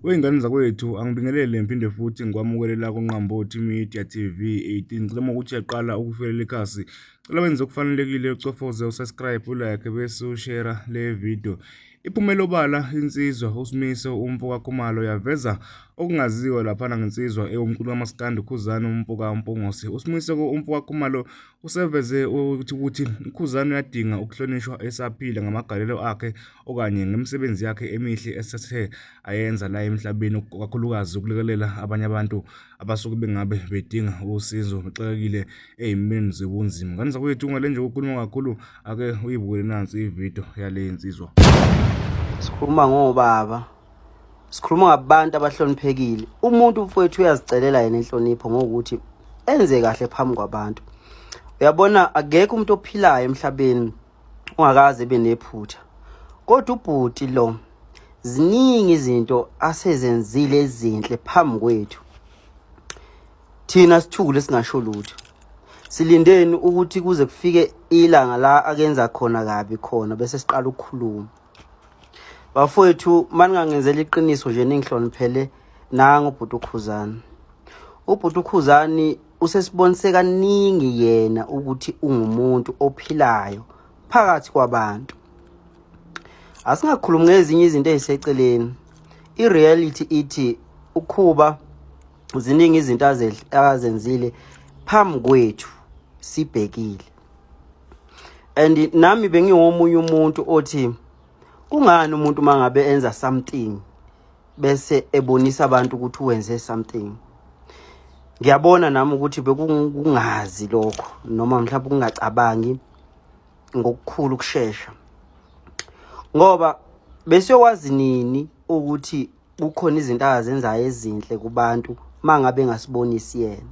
Wey'ngane zakwethu angibingelele ngiphinde futhi ngikwamukelela kuNqambothi Media TV 18 ngicela uma ukuthi uyaqala ukufelela ikhasi cela wenze okufanelekile ucofoze usubscribe ulike bese ushera le video iphumela obala insizwa uSmiso umfo kaKhumalo yaveza okungaziwa laphana ngensizwa ewumculo kamaskandi uKhuzani umfo kaMpongosi uSmiso umfo kaKhumalo Useveze ukuthi ukuthi uKhuzani uyadinga ukuhlonishwa esaphila ngamagalelo akhe okanye ngemisebenzi yakhe emihle esethe ayenza la emhlabeni kakhulukazi ukulekelela abanye abantu abasuke bengabe bedinga usizo bexakekile ey'meni zobunzima. Ngane zakwethu ungale nje ukukhuluma kakhulu ake uyibukele nansi ividiyo yale nsizwa. Sikhuluma ngobaba sikhuluma ngabantu abahloniphekile umuntu mfowethu uyazicelela yena inhlonipho ngokuthi enze kahle phambi kwabantu uyabona akekho umuntu ophilayo emhlabeni ungakaze benephutha kodwa ubhuti lo ziningi izinto asezenzile ezinhle phambi kwethu thina sithukule singasho lutho silindeni ukuthi kuze kufike ilanga la akenza khona kabi khona bese siqala ukukhuluma bafowethu maningangenzela iqiniso nje ningihloniphele nango ubhuti ukhuzani ubhuti ukhuzani usesibonise kaningi yena ukuthi ungumuntu ophilayo phakathi kwabantu asingakhulumi ngezinye izinto eziseceleni i-reality ithi ukhuba ziningi izinto azenzile phambi kwethu sibhekile and nami bengiwomunye umuntu othi kungani umuntu mangabe enza something bese ebonisa abantu ukuthi wenze something ngiyabona nami ukuthi bekungazi lokho noma mhlawumbe kungacabangi ngokukhulu ukushesha ngoba besiyokwazi nini ukuthi kukhona izinto azenzayo ezinhle kubantu mangabe ngasibonisi yena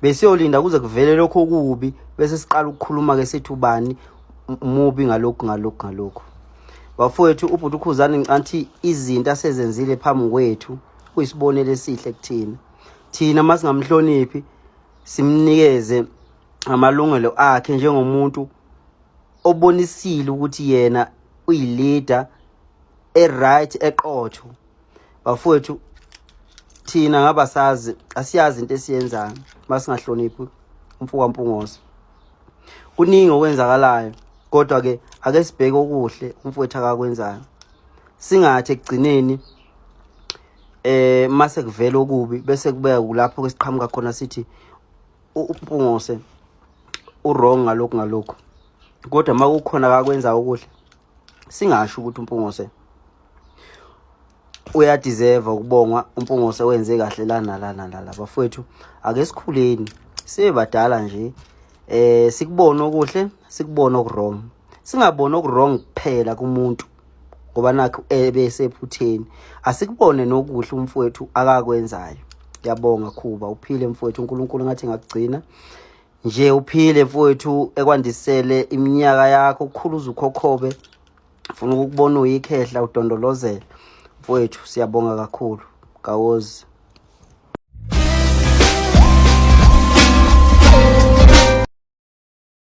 besiyolinda kuze kuvele lokho okubi bese siqala ukukhuluma ke sithi ubani mubi ngalokhu ngalokhu ngalokhu bafowethu ubhuti ukhuzani ngicanthi izinto asezenzile phambi kwethu kuyisibonelo esihle kuthina thina uma singamhloniphi simnikeze amalungelo akhe njengomuntu obonisile ukuthi yena uyileader eright eqotho bafowethu thina ngabasazi asiyazi into esiyenzayo masingahloniphi umfuka mpungoso kuningi okwenzakalayo kodwa ke ake sibheke okuhle umfowethu akakwenzayo singathi ekugcineni eh mase kuvela okubi bese kubeka kulapho kwesiqhamuka khona sithi umpungose urong ngalokhu ngalokhu kodwa uma kukhona kakwenza okuhle singasho ukuthi umpungose uyadeserve ukubongwa umpungose wenze kahle lana lana lala bafowethu ake sikhuleni sibe badala nje eh sikubone okuhle sikubone okurong singaboni okurong kuphela kumuntu ngoba nakho ebesephutheni asikubone nokuhle umfowethu akakwenzayo yabonga khuba uphile mfowethu uNkulunkulu ngathi ngakugcina nje uphile mfowethu ekwandisele iminyaka yakho ukukhulu uzukhokhobe ufuna ukubona uyikhehla udondolozela mfowethu siyabonga kakhulu kawozi